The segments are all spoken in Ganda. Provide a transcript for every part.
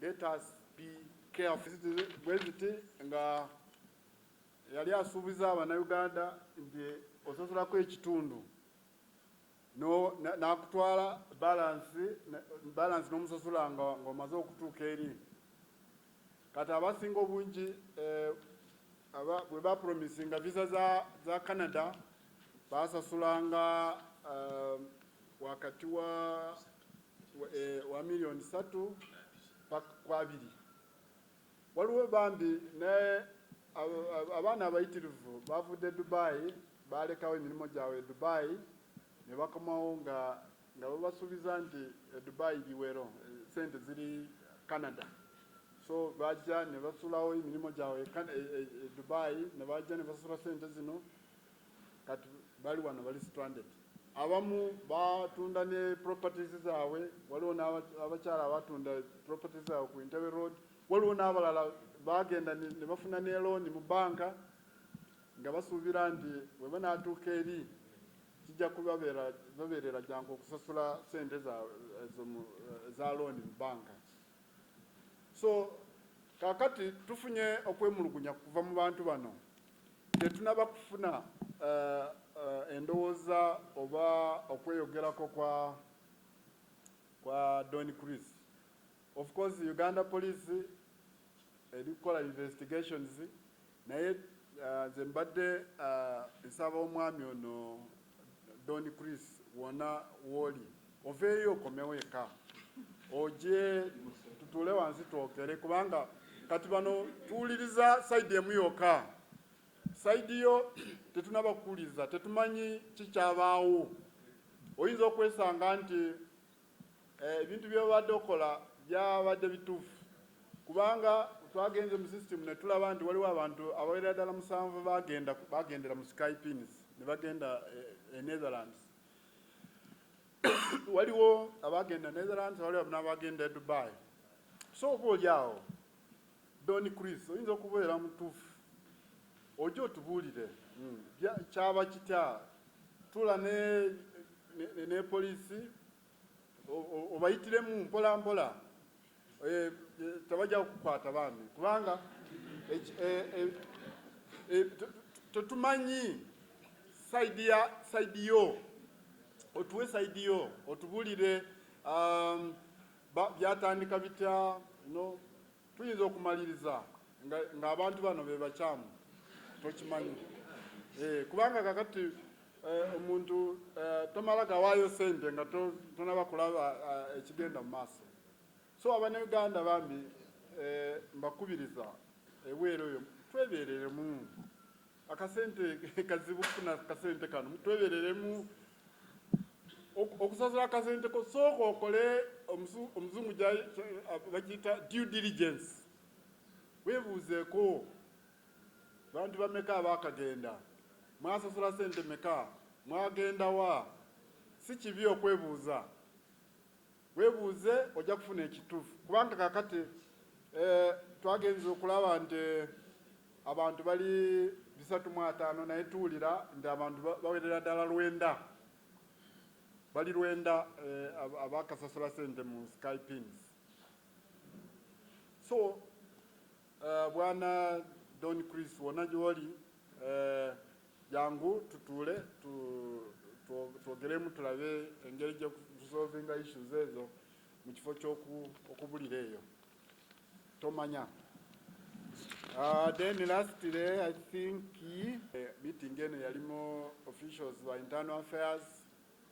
Let us be careful. Bweziti nga yali asuubiza abanauganda nti ososolako ekitundu nakutwala balansi balansi n'omusosola ng'omaze okutuuka eri kati abasinga obungi eh, bwe bapromisinga visa za Canada basasulanga eh, wakati wa wa e, milioni satu kwa abiri waliwo bambi naye abaana abayitirivu bavudde Dubai balekawo emirimu gyabwe Dubai ne bakomawo nga nga babasuubiza nti e Dubai biwero sente ziri Canada so bajja ne basulawo emirimu gyabwe e, e, e Dubai ne bajja ne basula sente zino kati bali wano bali stranded abamu batunda ne properties zaabwe waliwo n'abakyala abatunda properties zaabwe ku Entebbe road waliwo n'abalala bagenda ne bafuna ne looni mu banka nga basuubira nti bwe banaatuuka eri kijja kubabeerera jangu okusasula sente za looni mu banka so kakati tufunye okwemulugunya kuva mu bantu bano Tetunaba kufuna endowoza oba okweyogerako kwa kwa Don Chris. Of course Uganda police eri kukola investigations naye nze mbadde nsaba omwami ono Don Chris wona woli oveeyo okomewo eka oje tutuule wansi twogere kubanga kati bano tuwuliriza sayidi emu yokka sayidi yo tetunaba kuwuliriza tetumanyi kikyabaawo oyinza okwesanga nti Ebintu by'obadde okola byabadde bituufu kubanga twagenze mu system ne tulaba nti waliwo abantu abawerera ddala musanvu bagenda bagendera mu sky pins ne bagenda eh, e Netherlands waliwo abagenda Netherlands waliwo n'abagenda e Dubai so oba oli awo Don Chris oyinza okubeera mutuufu oje otubuulire kyaba kitya tula ne ne poliisi obayitiremu mpola mpola eh, eh, tebajja kukwata bambi kubanga eh, tetumanyi saidi ya saidi yo otuwe saidi yo otubulire um, Byatandika bitya? No, tuyinza okumaliriza ng'abantu nga bano be bakyamu tokimanyi eh, kubanga kakati eh, omuntu eh, tomala gawaayo sente nga tonaba kulaba eh, ekigenda mu maaso so abanayuganda bambi eh, mbakubiriza ebweru eyo twebereremu akasente kazibu kufuna kasente kano twebereremu okusasula akasente ko sooka okole omuzungu bakiyita due diligence webuuzeeko bantu bameka abakagenda mwasasula sente meka mwagendawa si kibi okwebuuza Webuuze ojja kufuna ekitufu kubanga kakati eh, twagenze okulaba nti eh, abantu bali bisatu mu ataano naye tuwulira nti abantu bawerera ddala lwenda bali lwenda eh, abakasasula sente mu skypins so Uh, bwana Don Chris wona gyoli uh, eh, jangu tutuule twogeremu tulabe engeri gyekusolvinga issues ezo mu kifo kyokubulira eyo tomanya Uh, then lastly, I think uh, meeting eno yalimu officials ba internal affairs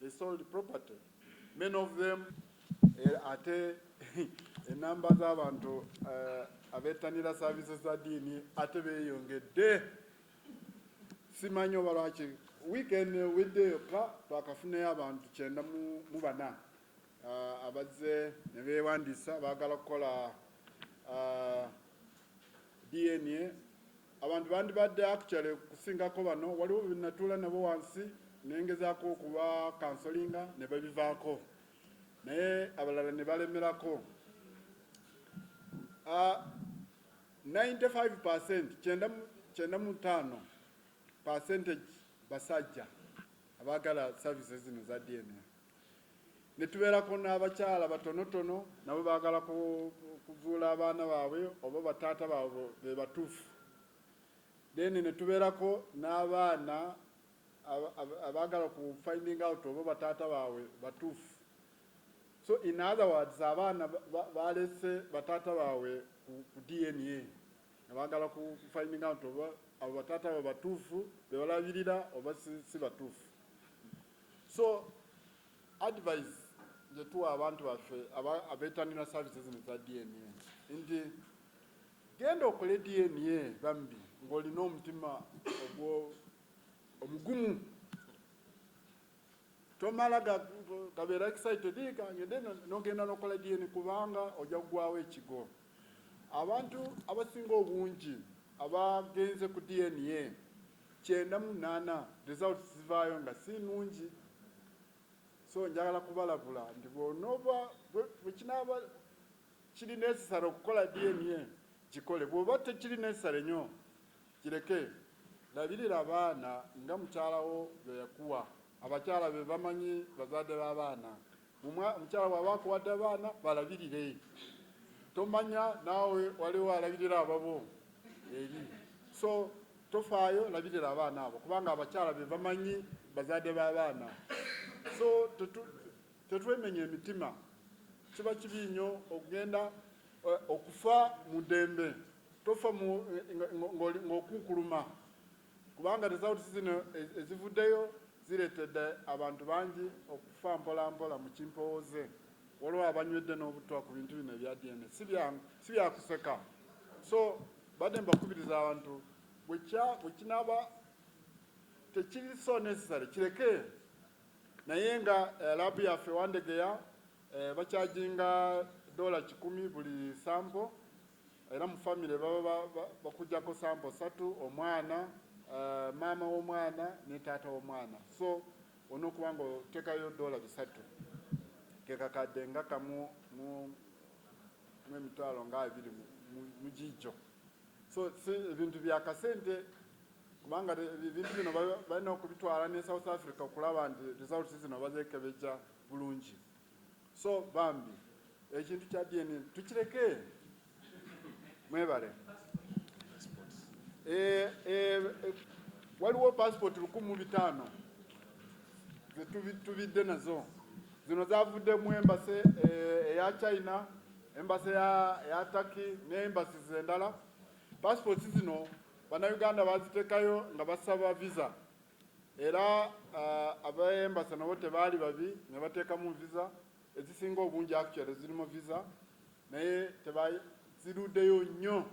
They sold property. Many of them eh, ate enamba eh, z'abantu eh, abetanira services za diini ate beeyongedde simanyi oba lwaki weekend wedde yokka twakafunayo abantu kyenda mu bana ah, abazze ne beewandiisa baagala kukola ah, DNA Abantu bandibadde actually kusingako bano waliwo benatuula nabo wansi nengezaako okuba kansolinga ne babivaako naye abalala ne balemerako. Uh, 95 percent kyenda kyenda mu ttaano percentage basajja abaagala services zino za DNA. ne tubeerako n'abakyala batonotono nabo baagala kuzuula abaana baabwe oba bataata baabwe be batuufu then ne tubeerako n'abaana abaagala ku finding out oba bataata baabwe batuufu so in other words abaana baalese bataata baabwe ku dna nga baagala ku finding out oba abo bataata baabwe batuufu be balabirira oba si batuufu So advise gyetuwa abantu baffe abetanira services zino za DNA nti genda okole DNA bambi ng'olina omutima ogwo omugumu tomala gabeera excited kangende nogenda nokola DNA kubanga ojja kugwawo ekigo Abantu abasinga obungi abagenze ku DNA kyenda mu munaana results zivaayo nga si nnungi so njagala kubalabula nti bwonooba bwekinaaba kiri necessary okukola DNA gikole bwoba tekiri necessary nyo kireke labirira abaana nga mukyalawo bweyakuwa abakyala bebamanyi bazadde b'abaana. Omukyala bwaba akuwadde abaana balabirire, tomanya naawe waliwo alabirira ababo eri, so tofaayo, labirira abaana abo kubanga abakyala be bamanyi bazaadde b'abaana. So tetwemenya emitima, kiba kibi nnyo okugenda eh, okufa mu ddembe, tofa ng'okunkuluma. kubanga results zino ezivuddeyo zireetedde abantu bangi okufa mpolampola mu kimpowooze waliwo abanywedde n'obutwa ku bintu bino ebya DNA si byakuseka so badde mbakubiriza abantu bwekinaba tekiri so necessary kireke naye nga eh, labu yaffe wandegeya eh, bakyajinga dola kikumi buli sample Era mu famire baba bakujako sampo satu omwana, maama womwana ne taata womwana so onokuba nga otekayo dola bisatu kekakade nga kamu mu mu emitwalo nga abiri mujijo so si ebintu bya kasente kubanga ebintu bino balina okubitwala ne South Africa okulaba nti results zino bazekebeja bulungi. So bambi ekintu kya DNA tukireke mwebale. E, e, e, waliwo passport lukumu bitaano zetubidde nazo zino zavudde mu embase eh, eya China embase ya Turkey ne embasi zendala. Passports zino bannayuganda bazitekayo nga basaba visa era uh, abaembasa nabo tebaali babi ne bateekamu visa ezisinga obungi actually zirimu visa naye tebaziruddeyo nnyo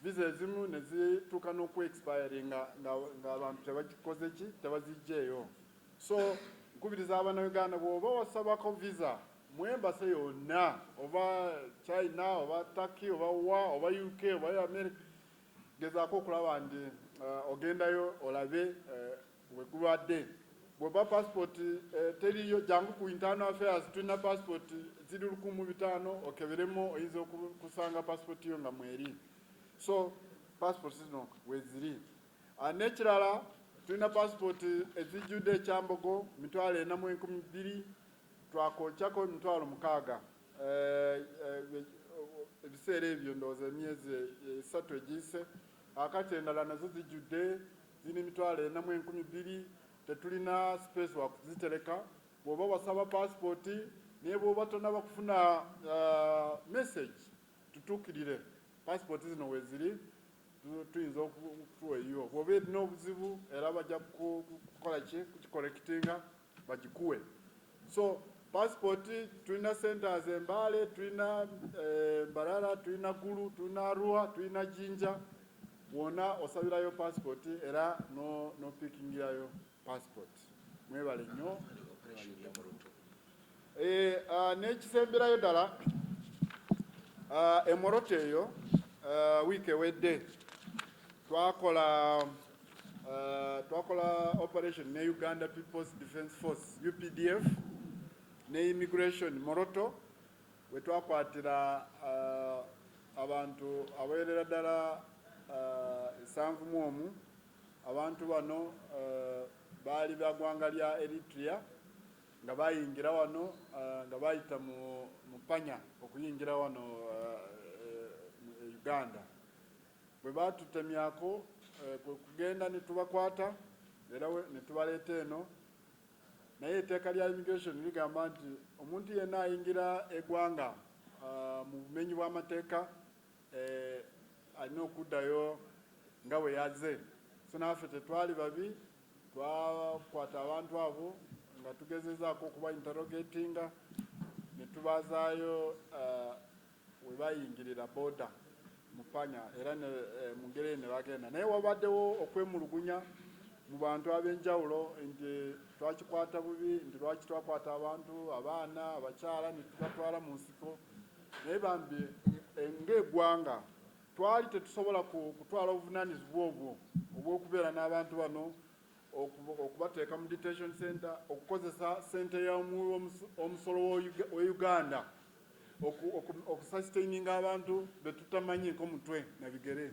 visa ezimu ne zituuka n'oku expiry ng'abantu tebakikoze ki tebazijjeeyo so nkubiriza abana uganda bwoba wasabako visa mu embasa yonna oba china oba turkey oba wa oba uk oba america Gezaako okulaba nti uh, ogendayo olabe uh, wegulwadde bwoba passport eh, teriyo jangu ku internal affairs tulina passport ziri lukumu bitaano okeberemu oyinza okusanga passport yo nga mweri so passport zino weziri ah, nekirala tulina passport ezijjudde ekyambogo mitwalo ena mu enkumi bbiri twakokyako emitwalo mukaaga Eh, eh, ebiseera ebyo ndowooza emyezi esatu egiyise akati endala nazo zijjudde zirina emitwalo ena mu enkumi bbiri tetulina space wakuzitereka bwoba wasaba pasipooti naye bwoba tonaba kufuna eh, message tutuukirire pasipooti zino weziri tuyinza okutuwa eyiwo bwoba erina obuzibu era bajja kukola ki kukikolekitinga bagikuwe so passport tulina centers embale tulina eh, mbarara tulina gulu tulina arua tulina jinja wona osabirayo passport era no, no pikingirayo passport mwebale nnyo eh, uh, nekisemberayo ddala uh, emoroto eyo uh, wiiki ewedde twakola Uh, twakola operation ne Uganda People's Defence Force UPDF ne immigration Moroto we twakwatira uh, abantu abawerera ddala uh, esanvu mu omu abantu bano uh, baali bagwanga lya Eritrea nga bayingira wano uh, nga bayita mu mupanya okuyingira wano uh, uh, Uganda Bwe baatutemyako kwe kugenda ne tubakwata era ne tubaleeta eno naye eteeka lya immigration ligamba nti omuntu yenna ayingira egwanga ah, mu bumenyi bw'amateeka eh, alina okuddayo nga bwe yaze so naffe tetwali babi twakwata abantu abo nga tugezezaako okuba interrogatinga ne tubazaayo ah, we baayingirira booda mu panya era ne, e, mu ngeri eyo ne bagenda naye wabaddewo okwemulugunya mu bantu ab'enjawulo nti twakikwata bubi nti lwaki twakwata abantu abaana abakyala ne tubatwala mu nsiko naye bambi e, ng'eggwanga twali tetusobola kutwala obuvunaanyizibwa obwo obw'okubeera n'abantu bano okubateeka mu detention center okukozesa sente y'omuwi omusolo wa Uganda okusustaininga abantu betutamanyi nko mutwe na bigere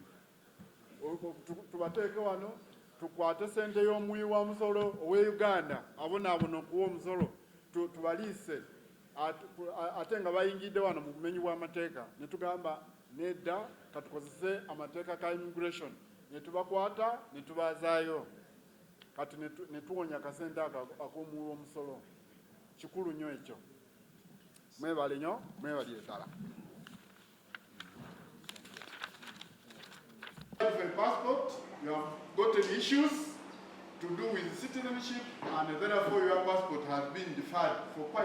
tubateeke wano tukwate sente y'omuwi wa musolo owe Uganda abonaabona okuwa omusolo tubaliise ate nga bayingidde wano mu bumenyi bw'amateeka ne tugamba Nedda, ka tukozese amateeka ka immigration ne tubakwata ne tubaazaayo kati ne tuwonya akasente ako ak'omuwi w'omusolo. Kikulu nnyo ekyo. Mwebale nnyo, mwebalire ddala. passport, you have gotten issues to do with citizenship, and therefore your passport has been deferred for quite